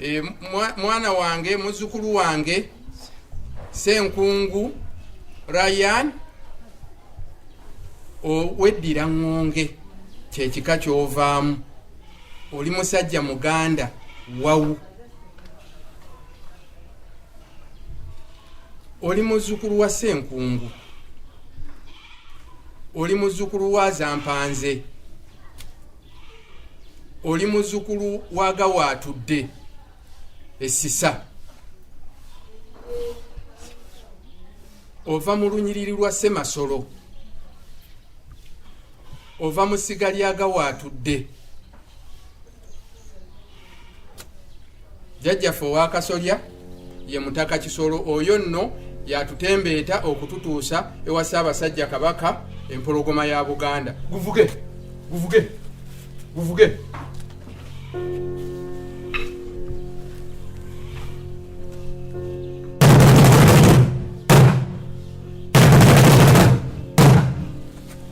e, mwana wange muzukulu wange senkungu ryan oweddira ŋŋonge kyekika kyovaamu oli musajja muganda wawu oli muzukulu wa senkungu oli muzukulu wa zampanze oli muzukulu wa gawaatudde essisa ova mu lunyiriri lwa semasolo ova mu siga lya gawaatudde jajjaffe owakasolya ye mutaka kisolo oyo nno yatutembeeta okututuusa ewa ssaabasajja kabaka empologoma ya buganda guvuge guvuge guvuge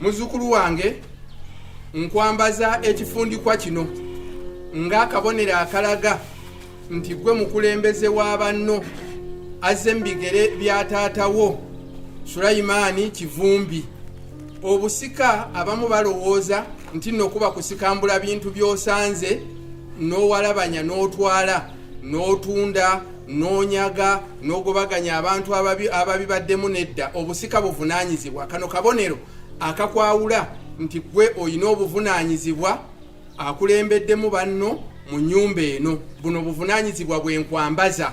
Muzzukulu wange nkwambaza ekifundikwa kino ng'akabonero akalaga nti gwe mukulembeze wa banno azze mu bigere bya taata wo sulayimaani kivumbi obusika abamu balowooza nti nokuba kusikambula bintu by'osanze n'owalabanya n'otwala n'otunda n'onyaga n'ogobaganya abantu ababibaddemu nedda obusika buvunaanyizibwa kano kabonero akakwawula nti gwe olina obuvunaanyizibwa akulembeddemu banno mu nyumba eno buno buvunaanyizibwa bwenkwambaza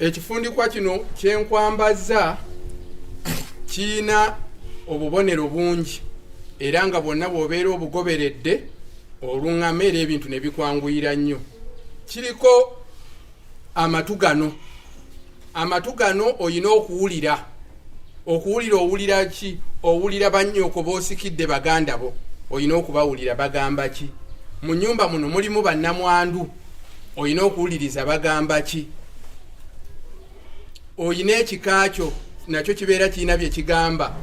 ekifundikwa kino kyenkwambazza kiyina obubonero bungi era nga bwonna bwobeera obugoberedde oluŋama era ebintu nebikwanguyira nnyo kiriko amatu gano amatu gano olina okuwulira okuwulira owulira ki owulira bannyoko boosikidde baganda bo olina okubawulira bagamba ki mu nyumba muno mulimu bannamwandu olina okuwuliriza bagamba ki olina ekika kyo nakyo kibeera kirina bye kigamba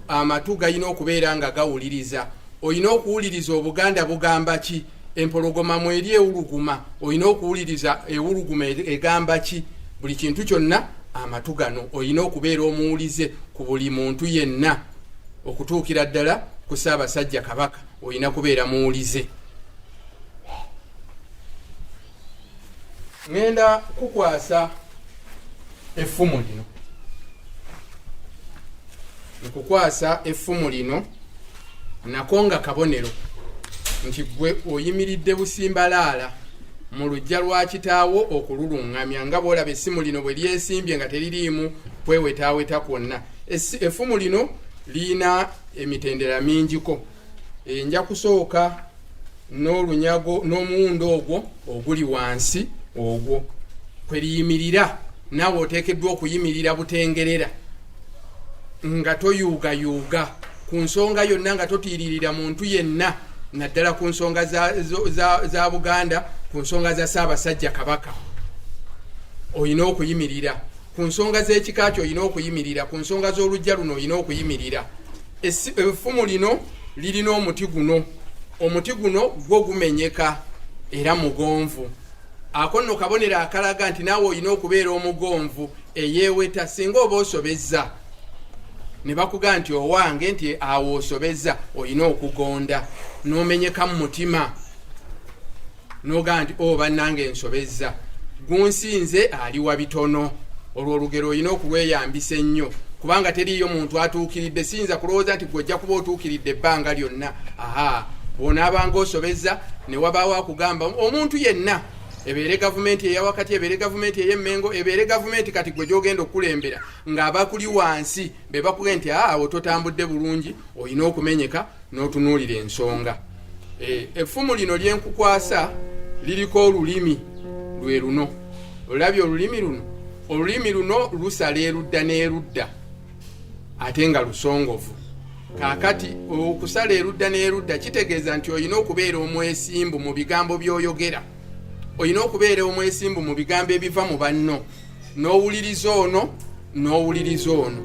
amatu galina okubeera nga gawuliriza olina okuwuliriza obuganda bugamba ki empologoma mweri ewuluguma olina okuwuliriza ewuluguma egamba ki buli kintu kyonna amatu gano olina okubeera omuwulize ku buli muntu yenna okutuukira ddala ku saabasajja kabaka olina kubeera muwulize ŋŋenda kukwasa effumu lino nkukwasa effumu lino nako nga kabonero nti gwe oyimiridde busimbalaala mu lujja lwa kitaawo okululuŋŋamya nga bwolaba essimu lino bwe lyesimbye nga teririimu kwewetaaweta kwonna effumu lino lirina emitendera mingiko e, nja kusooka n'olunyago n'omuwundo ogwo oguli wansi ogwo kweriyimirira naawe oteekeddwa okuyimirira butengerera nga toyuugayuuga ku nsonga yonna nga totiiririra muntu yenna naddala ku nsonga za, za, za, za buganda ku nsonga za ssaabasajja kabaka olina okuyimirira ku nsonga z'ekika kyo olina okuyimirira ku nsonga z'olujja luno olina okuyimirira effumu lino lirina omuti guno omuti guno gwo gumenyeka era mugonvu ako nno kabonero akalaga nti naawe olina okubeera omugonvu eyeeweta singa oba osobezza ne bakuga nti owange nti awo osobezza olina okugonda n'omenyeka mu mutima nogaa nti o oh, bannanga ensobezza gunsinze aliwa bitono olwo olugero olina okulweyambisa ennyo kubanga teriiyo muntu atuukiridde siyinza kulowooza nti gwojja kuba otuukiridde ebbanga lyonna aha bwonaabanga osobezza ne wabaawo akugamba omuntu yenna ebeere gavumenti eyawakati ebeere gavumenti eyemmengo ebeere gavumenti kati gwe gyogenda okukulembera ng'abakuli wansi be bakuge nti aawo totambudde bulungi olina okumenyeka n'otunuulira ensonga e, effumu lino lyenkukwasa liriko olulimi lwe luno olabye olulimi luno olulimi luno lusala erudda n'erudda ate nga lusongovu kakati okusala erudda n'erudda kitegeeza nti olina okubeera omwesimbu mu bigambo by'oyogera olina okubeera omwesimbu mu bigambo ebiva mu banno n'owuliriza ono n'owuliriza ono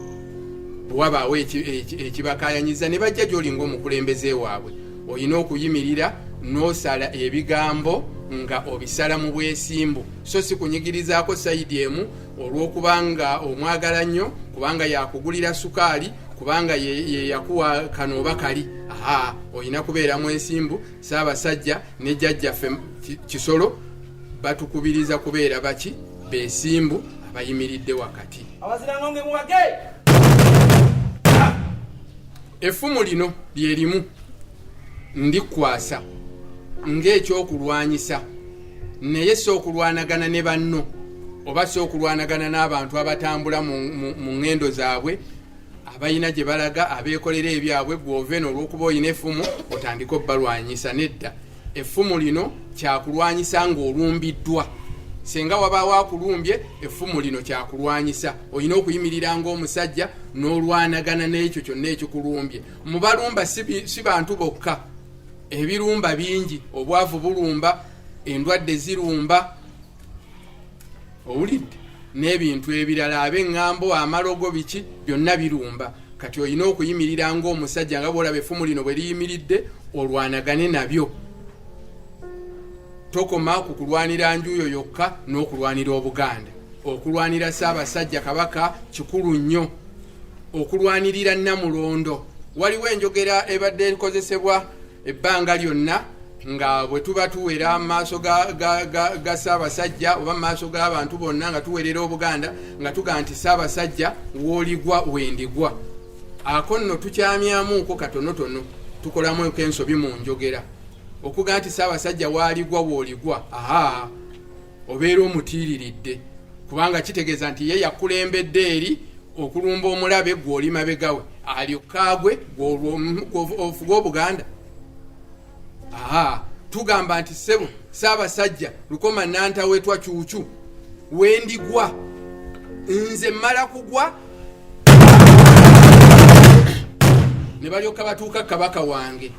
bwewabaawo ekibakayanyiza ne bajja gyoli ngaomukulembeze waabwe olina okuyimirira n'osala ebigambo nga obisala mu bwesimbu so si kunyigirizaako sayidi emu olw'okuba nga omwagala nnyo kubanga yakugulira sukaali kubanga yeyakuwa kano oba kali aa olina kubeera mwesimbu saabasajja ne jajjaffe kisolo batukubiriza kubeera baki besimbu abayimiridde wakati effumu lino lyerimu ndikwasa ng'ekyokulwanyisa naye si okulwanagana ne banno oba si okulwanagana n'abantu abatambula mu ŋŋendo zaabwe abalina gye balaga abeekolera ebyabwe gw'ove n'olwokuba olina effumu otandike obalwanyisa nedda effumu lino kyakulwanyisa ng'olumbiddwa singa wabaawo akulumbye effumu lino kyakulwanyisa olina okuyimirira ng'omusajja n'olwanagana n'ekyo kyonna ekikulumbye mu balumba si bantu bokka ebirumba bingi obwavu bulumba endwadde zirumba owulidde n'ebintu ebirala abeŋŋambo amalogo biki byonna birumba kati olina okuyimirira ngaomusajja nga bwolaba efumu lino bwe liyimiridde olwanagane nabyo tokoma ku kulwanira njuuyo yokka n'okulwanira obuganda okulwanira saabasajja kabaka kikulu nnyo okulwanirira namulondo waliwo enjogera ebadde ekozesebwa ebbanga lyonna nga bwe tuba tuwera mu maaso ga ssaabasajja oba mu maaso g'abantu bonna nga tuwerera obuganda nga tugaa nti ssaabasajja wooligwa wendigwa ako nno tukyamyamuuko katonotono tukolamu eko ensobi mu njogera okugaa nti ssaabasajja waaligwa wooligwa aa obeera omutiiriridde kubanga kitegeeza nti ye yakulembedde eri okulumba omulabe gwoli mabegawe alyokaagwe gwofuga obuganda aha tugamba nti sebo saabasajja lukoma nantawetwa cuucu wendigwa nze mala kugwa ne balyoka batuuka kabaka wange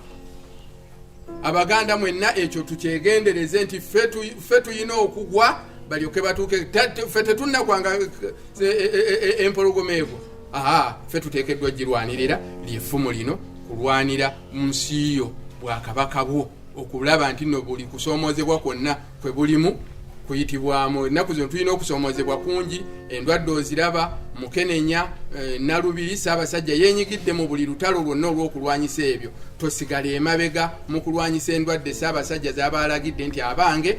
abaganda mwenna ekyo tukyegendereze nti ffe tulina okugwa balyoke batuuke ffe tetunnakwanga eh, eh, eh, empologoma ego aa ffe tuteekeddwa girwanirira lyefumu lino kulwanira mu nsi yo bwakabaka bwo okulaba nti no buli kusoomozebwa kwonna kwe bulimu kuyitibwamu ennaku zino tulina okusoomozebwa kungi endwadde oziraba mukenenya eh, nalubiri saabasajja yenyigidde mu buli lutalo lwonna olw'okulwanyisa ebyo tosigala emabega mu kulwanyisa endwadde saabasajja zabaalagidde nti abange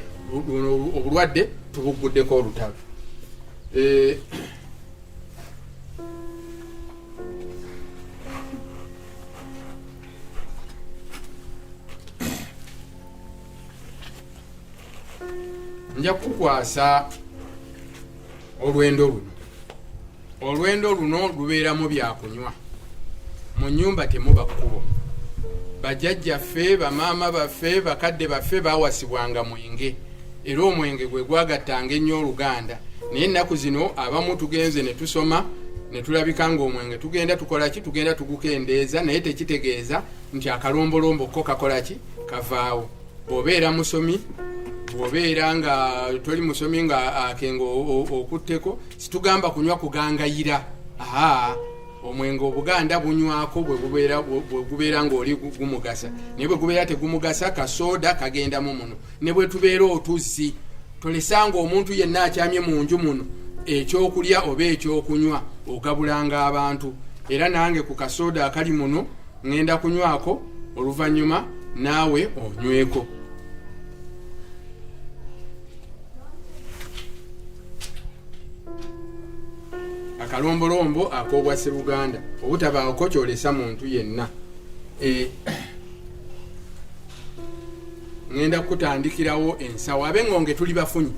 obulwadde tubugguddeko olutalo eh, nja kukwasa olwendo luno olwendo luno lubeeramu byakunywa mu nyumba temuba kkubo bajajjaffe bamaama baffe bakadde baffe bawasibwanga mwenge era omwenge gwe gwagattanga ennyo oluganda naye ennaku zino abamu tugenze ne tusoma ne tulabika nga omwenge tugenda tukola ki tugenda tugukendeeza naye tekitegeeza nti akalombolombo ko kakola ki kavaawo bw'obeera musomi bw'obeera nga toli musomi nga akenga okutteko situgamba kunywa kugangayira aa omwenge obuganda bunywako bwegubeera ngaoli gumugasa naye bwegubeera tegumugasa kasooda kagendamu muno ne bwetubeera otuzzi tolesanga omuntu yenna akyamye mu nju muno ekyokulya oba ekyokunywa ogabulanga abantu era nange ku kasooda akali muno ŋŋenda kunywako oluvannyuma naawe onyweko akalombolombo ak'obwa sseruganda obutabaako kyolesa muntu yenna e, ŋŋenda kukutandikirawo ensawo abe ŋŋonge tuli bafunyi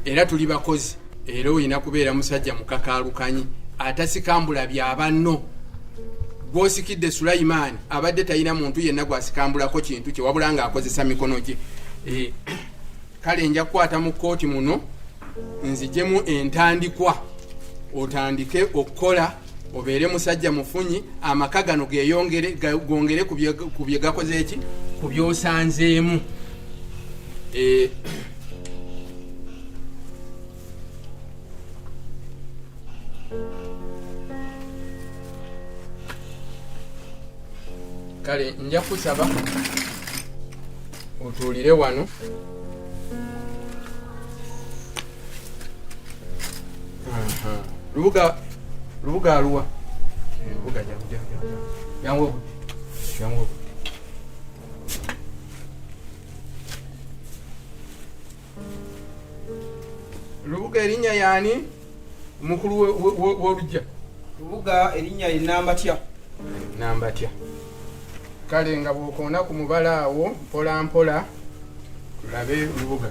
era tuli bakozi era olina kubeera musajja mukakaalukanyi atasikambula bya banno gwosikidde sulayimaani abadde talina muntu yenna gwasikambulako kintu kye wabula nga akozesa mikono gye eh, kale nja kukwata mu kkooti muno nzijemu entandikwa otandike okukola obeere musajja mufunyi amaka gano geyongere gongere ku bye gakoze eki ku byosanzeemu eh, kale nja kusaba otuulire wano lubuga lubuga aluwa lubuga jangu jangu lubuga erinnya yaani omukulu w'olujja lubuga erinnya ye nambatya nambatya kale nga bwokoona ku mubala awo mpola mpola tulabe lubuga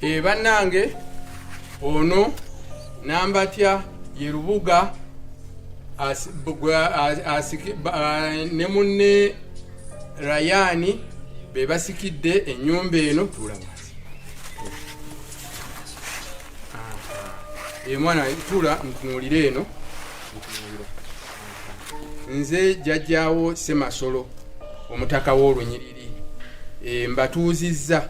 e bannange ono nambatya ye lubuga ne munne rayani be basikidde ennyumba eno tuulamazi emwana eh, tuula ntunuulire eno nze jjajjaawo semasolo omutaka w'olunyiriri e, mbatuuzizza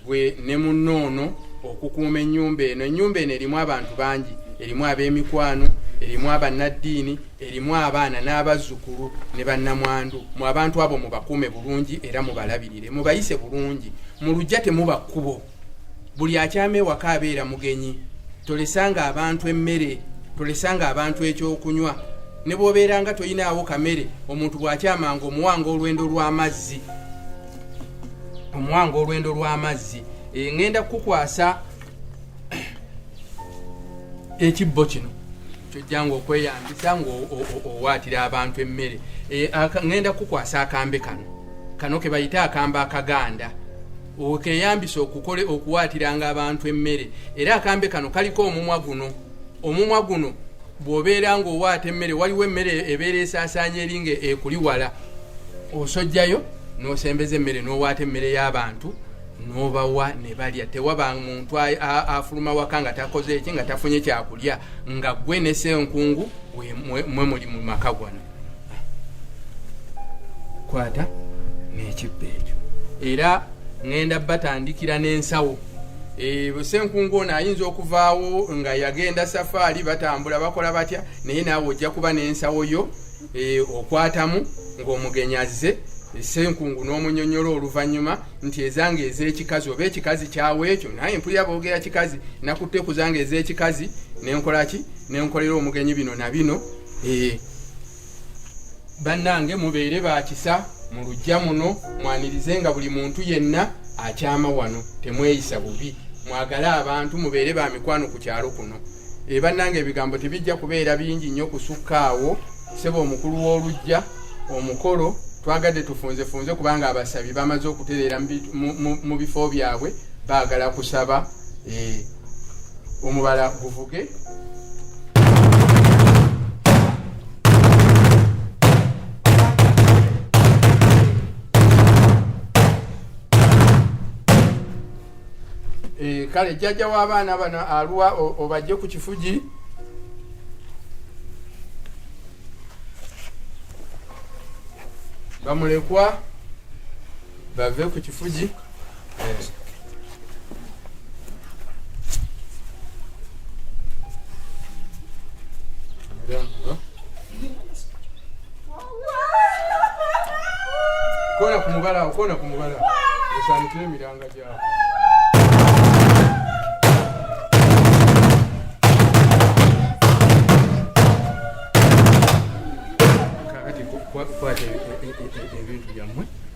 gwe ne munnoono okukuuma ennyumba eno ennyumba eno erimu abantu bangi erimu ab'emikwano erimu abannaddiini erimu abaana n'abazzukulu ne bannamwandu mu abantu abo mubakuume bulungi era mubalabirire mubayise bulungi mu lujja temuba kkubo buli akyama ewaka abeera mugenyi tolesanga abantu emmere tolesanga abantu ekyokunywa ne bwobeera nga toyinaawo kamere omuntu bwakyamanga omuwanga olwendo lw'amazzi omuwanga olwendo lw'amazzi eh, ŋŋenda kukukwasa ekibbo kino kyojjanga okweyambisa ngaowaatira abantu emmere eh, ŋŋenda kukukwasa akambe kano kano ke bayite akambe akaganda okeyambisa okukole okuwaatiranga abantu emmere era akambe kano kaliko omumwa guno omumwa guno bw'obeera ng'owaata emmere waliwo emmere ebeera esaasaanya eri nga ekuliwala osojjayo n'osembeza emmere n'owaata emmere y'abantu n'obawa ne balya tewaba muntu afuluma waka nga takoze eki nga tafunye kyakulya nga gwe nesenkungu mwe muli mu maka gwana kwata n'ekibba ekyo era ŋenda batandikira n'ensawo Eh, senkungu ono ayinza okuvaawo nga yagenda safaari batambula bakola batya naye naawe ojja kuba n'ensawo yo eh, okwatamu ng'omugenyi azze eh, senkungu n'omunyonyola oluvannyuma nti ezange ez'ekikazi oba ekikazi kyawo ekyo naye mpulira boogera kikazi nakutte kuzange ez'ekikazi nenkolaki nenkolera omugenyi bino na bino eh, bannange mubeere bakisa mu lujja muno mwanirize nga buli muntu yenna akyama wano temweyisa bubi mwagale abantu mubeere ba mikwano ku kyalo kuno eh, bannange ebigambo tebijja kubeera bingi nnyo kusukkaawo seba omukulu w'olujja omukolo twagadde tufunzefunze kubanga abasabi bamaze okutereera mu bifo byabwe baagala kusaba eh, omubala guvuge Eh, kale jjajja w'abaana bano aluwa obajje ku kifugi bamulekwa bave ku kifugi kona ku mubala kona ku mubala osaanikira emiranga gyabo kwata ebintu byammwe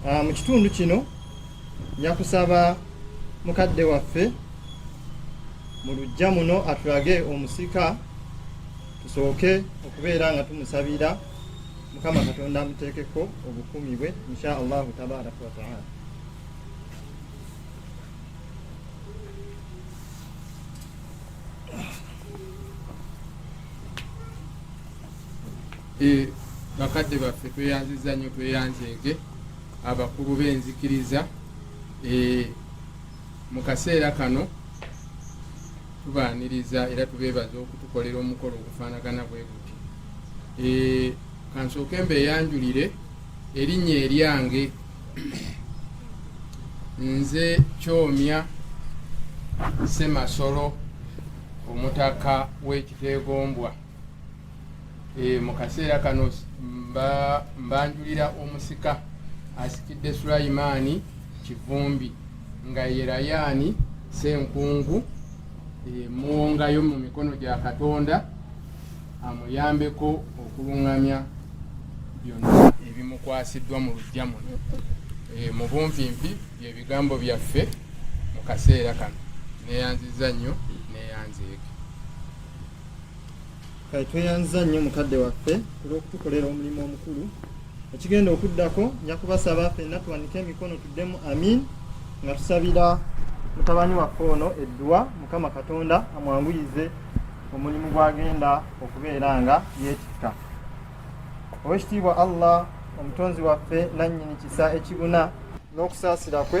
Ah, mu kitundu kino nyakusaba mukadde waffe mu lujja muno atulage omusika tusooke okubeera nga tumusabira mukama katonda amuteekeko obukumi bwe insha allahu tabaraka wataala Eh, bakadde baffe tweyanziza nnyo tweyanzeege abakulu b'enzikiriza eh, mu kaseera kano tubaaniriza era tubeebaza okutukolera omukolo ogufaanagana bwe guti eh, kansooke mbeeyanjulire erinnya eryange nze kyomya semasolo omutaka w'ekiteegombwa Eh, mu kaseera kano mbanjulira omusika asikidde sulayimaani kivumbi nga ye rayaani senkungu eh, muwongayo mu mikono gya katonda amuyambeko okulungamya byonna ebimukwasiddwa mu lujja muno eh, mu bunvimpi byebigambo byaffe mu kaseera kano neyanziza nnyo neyanzeeke kale tweyanziza nnyo mukadde waffe olw'okutukolera omulimu omukulu ekigenda okuddako nja kubasaba fenna tuwanike emikono tuddemu amin nga tusabira mutabani waffe ono edduwa mukama katonda amwanguyize omulimu gwagenda okubeera nga yeetikka owekitiibwa allah omutonzi waffe nannyini kisa ekibuna n'okusaasira kwe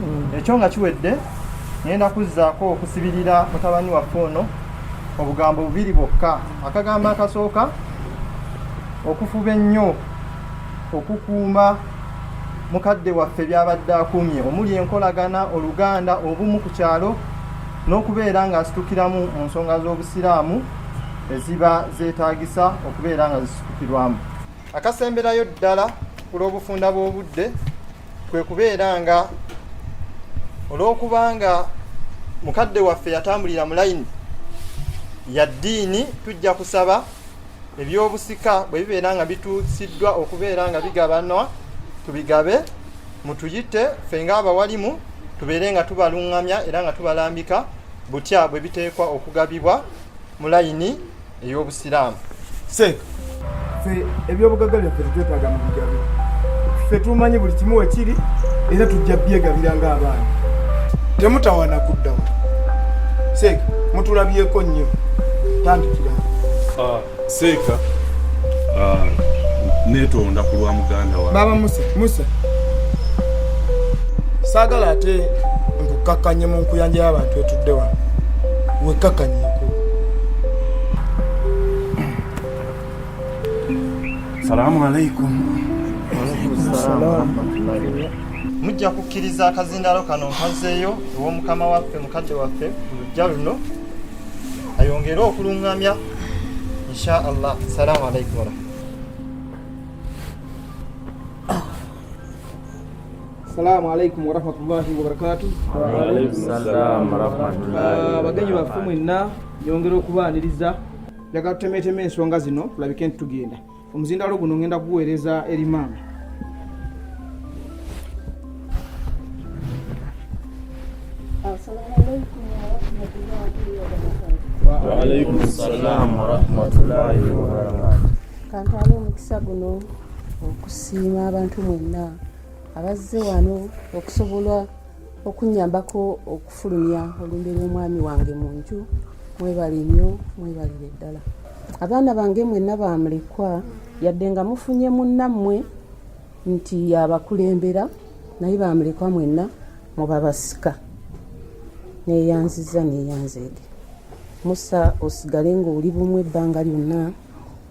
mm. ekyo nga kiwedde ngenda kuzzaako okusibirira mutabani waffe ono obugambo bubiri bwokka akagambo akasooka okufuba ennyo okukuuma mukadde waffe byabadde akuumye omuli enkolagana oluganda obumu ku kyalo n'okubeera ng'asitukiramu mu nsonga z'obusiraamu eziba zeetaagisa okubeera nga zisitukirwamu akasemberayo ddala ku lw'obufunda bw'obudde kwe kubeera nga olw'okubanga mukadde waffe yatambulira mu layini ya ddiini tujja kusaba ebyobusika bwe bibeera nga bituusiddwa okubeera nga bigabanwa tubigabe mutuyite ffe ng'abawalimu tubeere nga tubaluŋŋamya era nga tubalambika butya bwe biteekwa okugabibwa mu layini ey'obusiraamu seeka fe ebyobugagga byaffe tetwetaaga mu bigabe ffe tumanyi buli kimu wekiri era tujja byegabira ng'abaana temutawana kuddawo seeka mutulabyeko nnyo tandikira ah, seeka ah, netonda ku lwa muganda wa baba musa musa saagala ate nkukkakkanye mu nkuyanja y'abantu etudde wano wekkakkanye Salamu alaikum. Mujja kukkiriza akazindaalo kano nkazeeyo ew'omukama waffe mukadde waffe mu lujja luno ayongere okulungamya insha allah. Salamu alaikum. Assalamu alaikum warahmatullahi wabarakatuh. Ah, bagenyi baffe mwenna nyongera okubaaniriza njagala tutemeetema ensonga zino tulabike nti tugenda omuzindaalo guno ngenda kuguweereza eri maama kantwala omukisa guno okusiima abantu mwenna abazze wano okusobola okunyambako okufulumya olumbe lw'omwami wange mu nju mwebale nnyo mwebalire ddala abaana bange mwenna bamulekwa yadde nga mufunye munnammwe nti yabakulembera naye bamulekwa mwenna mubabasika neyanziza neyanzeege musa osigale ngaoli bumu ebbanga lyonna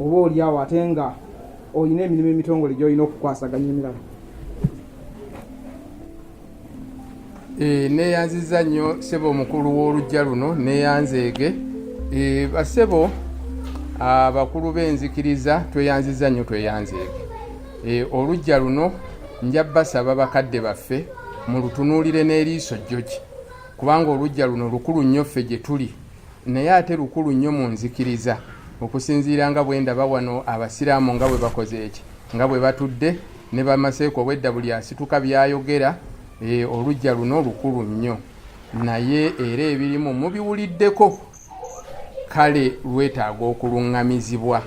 oba oli awo ate nga olina emirimu emitongole gyolina okukwasaganya emirala eh, neyanziza nnyo sebo omukulu w'olujja luno neyanzeege eh, basebo abakulu b'enzikiriza tweyanziza nnyo tweyanzeege eh, olujja luno nja basaba bakadde baffe mulutunuulire n'eriiso jjoki kubanga olujja luno lukulu nnyo ffe gye tuli naye ate lukulu nnyo mu nzikiriza okusinziira nga bwe ndaba wano abasiraamu nga bwe bakoze eki nga bwe batudde ne bamaseeko obwedda buli asituka byayogera e, olujja luno lukulu nnyo naye era ebirimu mubiwuliddeko kale lwetaaga okuluŋŋamizibwa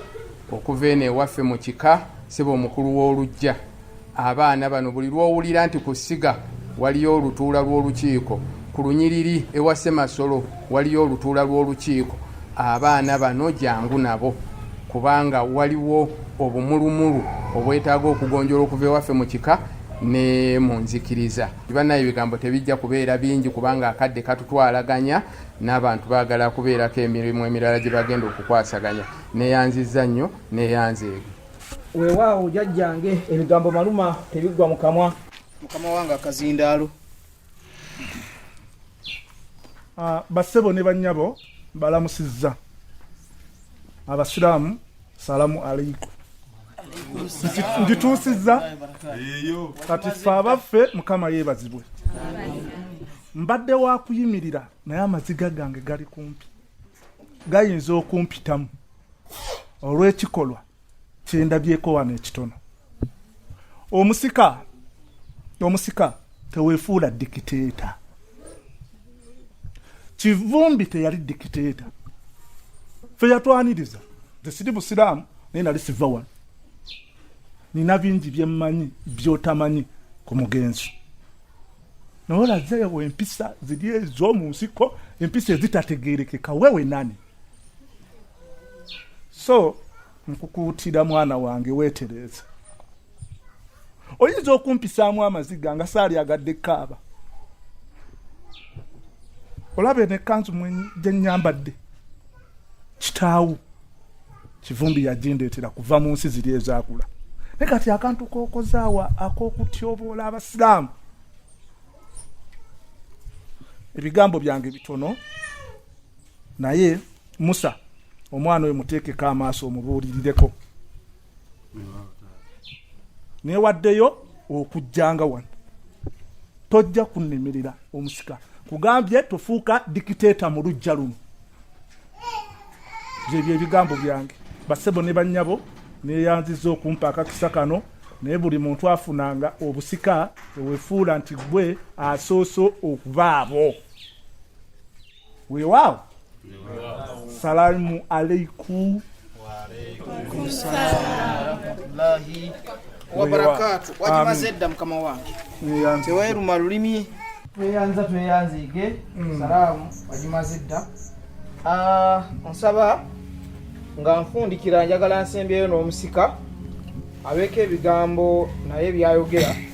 okuva eno ewaffe mu kika seba omukulu w'olujja Abaana bano buli lw'owulira nti ku ssiga waliyo olutuula lw'olukiiko, ku lunyiriri ewa Ssemasolo waliyo olutuula lw'olukiiko, abaana bano jangu nabo kubanga waliwo obumulumulu obwetaaga okugonjola okuva ewaffe mu kika ne mu nzikiriza. Banaye ebigambo tebijja kubeera bingi kubanga akadde katutwalaganya n'abantu baagala kubeerako emirimu emirala gye bagenda okukwasaganya. Neyanzizza nnyo neyanzeege. Weewaawo jajjange, ebigambo maluma tebiggwa mu kamwa. Mukama wange akazindaalo. Ah, bassebo ne bannyabo balamusizza abasiraamu salamu aleiku ndituusizza kati fe abaffe mukama yeebazibwe mbadde wakuyimirira naye amaziga gange gali kumpi gayinza okumpitamu olw'ekikolwa kyendabyeko wano ekitono omusika omusika tewefuula dikiteeta kivumbi teyali dikiteeta fe yatwaniriza nze siri busiraamu naye nali siva wano nina bingi byemmanyi byotamanyi ku mugenzi naye olazeewo empisa ziri ez'omu nsiko empisa ezitategerekeka wewe nani so nkukuutira mwana wange weetereeze oyinza okumpisaamu amaziga nga saali agadde kaaba olaba eno ekkanzu gye nnyambadde kitaawo kivumbi yagindeetera kuva mu nsi ziri ezaakula naye kati akantu kokozaawa ak'okutyoboola abasiraamu ebigambo byange bitono naye musa omwana oyo muteekeko amaaso omubuulirireko newaddeyo okujjanga wano tojja kunemerera omusika kugambye tofuuka dikiteeta mu lujja luno byebyo ebigambo byange basebo ne bannyabo neyanziza okumpa akakisa kano naye buli muntu afunanga obusika ewefuula nti gwe asooso okubaabo Weewaawo. Salaamu alaikum. wabarakaatu wagimaze edda mukama wange teweruma lulimi tweyanza tweyanziige mm. salaamu wagimaze edda ah, nsaba nga nfundikira njagala nsembyeyo n'omusika abeeko ebigambo naye byayogera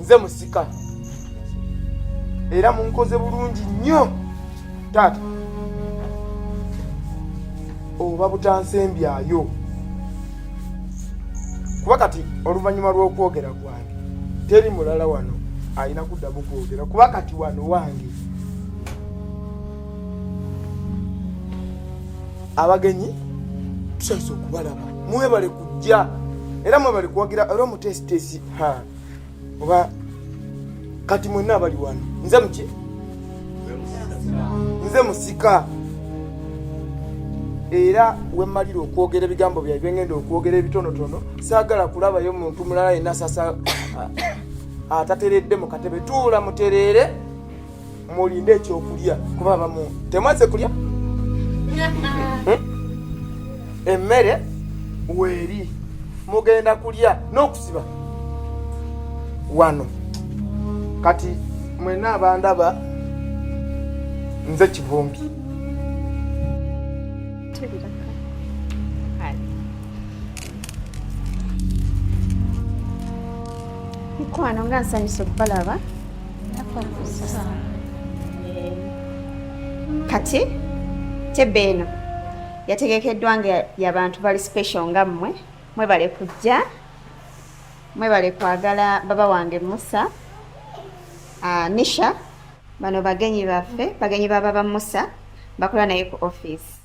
nze musika era munkoze bulungi nnyo taata oba butansembyayo kuba kati oluvannyuma lw'okwogera kwange teri mulala wano alina kuddamu kwogera kuba kati wano wange abagenyi tusaise okubalaba mwebale kujja era mwebale kuwagira era omutesitesi oba kati mwenna abali wano nze muki nze musika era wemalira okwogera ebigambo bya byengenda okwogera ebitonotono saagala kulabayo muntu mulala yenna sasa atateredde mu katebe tuula mutereere mulinde ekyokulya kuba abamu temwaze kulya hmm? emmere weeri mugenda kulya n'okusiba wano kati mwena abandaba nze kivumbi mukwano nga nsanyusa okubalaba kati tebbe eno yategekeddwa nga yabantu bali special nga mmwe mwebale kujja mwebale kwagala baba wange musa uh, nisha bano bagenyi baffe bagenyi baba ba musa bakola naye ku office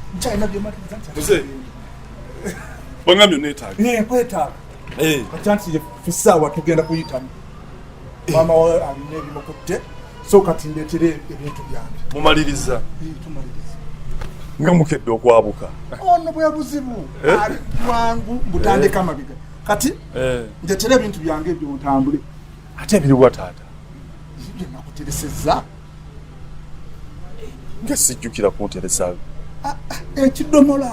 Wangamyo netaga. Ne kwetaga. Eh. Kachanti ye fisawa tugenda kuyitamu. Eh. Mama wa amine bimukutte. So kati ndetere ebintu byange. Mumaliriza. Eh, tumaliriza. Nga mukedde okwabuka. Ono bwe buzibu. Eh? Ali kwangu butandika eh. mabiga. Kati eh. ndetere ebintu byange byo ntambule. Ate biri wa taata. Nje nakutereseza. nga sijjukira kunteresa ah, ah, ekidomola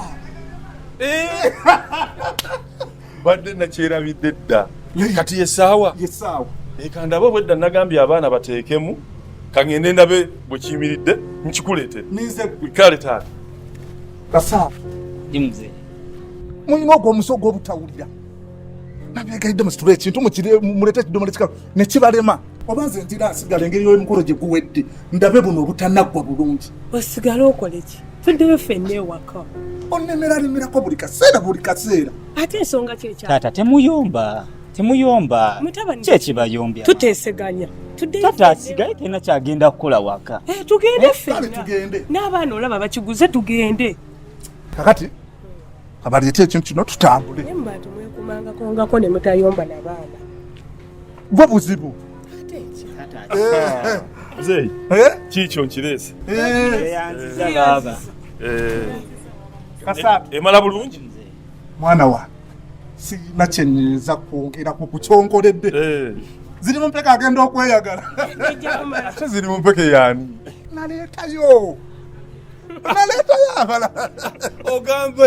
eh! badde nakyerabidde dda kati yesaawa yesaawa ekandaba obwedda nagambye abaana bateekemu kangende ndabe bwekiyimiridde nkikuleete kale taata kasaa mulina ogwo omusi ogwobutawulira nabyegaidde musitula ekintu mulete ekidomola ekikalu nekibalema oba nze ntira asigala engeri yomukolo gye guwedde ndabe buno obutanaggwa bulungi osigale okoleki tuddeyo fenna ewaka onemera lemerako buli kaseera buli kaseera ate ensonga kyekyaata temuyomba temuyomba kyekibayombya tuteseganya tata asigaye tena kyagenda kukola waka eh, tugende eh, fenna n'abaana olaba bakiguze tugende kakati abaleeta ekintu kino tutambule mba tumwekumangakongako ne mutayomba nabaana bwo buzibu mzeeyi kiikyo nkireese emala bulungi mwana wa sirina kyenyinza kwogera ku kukyonkoledde eh. ziri mu mpeke agenda okweyagala ate ziri mu mpeke yaani naleetayo naleetayo abala ogamba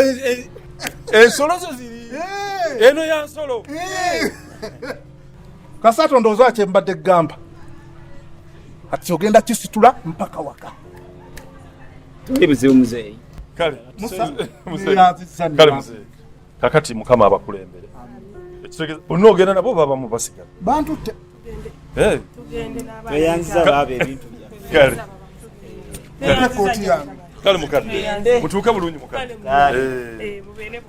ensolo zo ziri eh. eno ya nsolo eh. kasato ndowooza kye mbadde gamba ati ogenda kisitula mpaka waka tuli buzibu muzeeyi kale muzeeyi kakati mukama abakulembere bonna ogenda nabo baba mubasigala bantu te eh. tweyanziza baaba ebintu byaffe kale mukadde mutuuke bulungi mukadde eh. eh,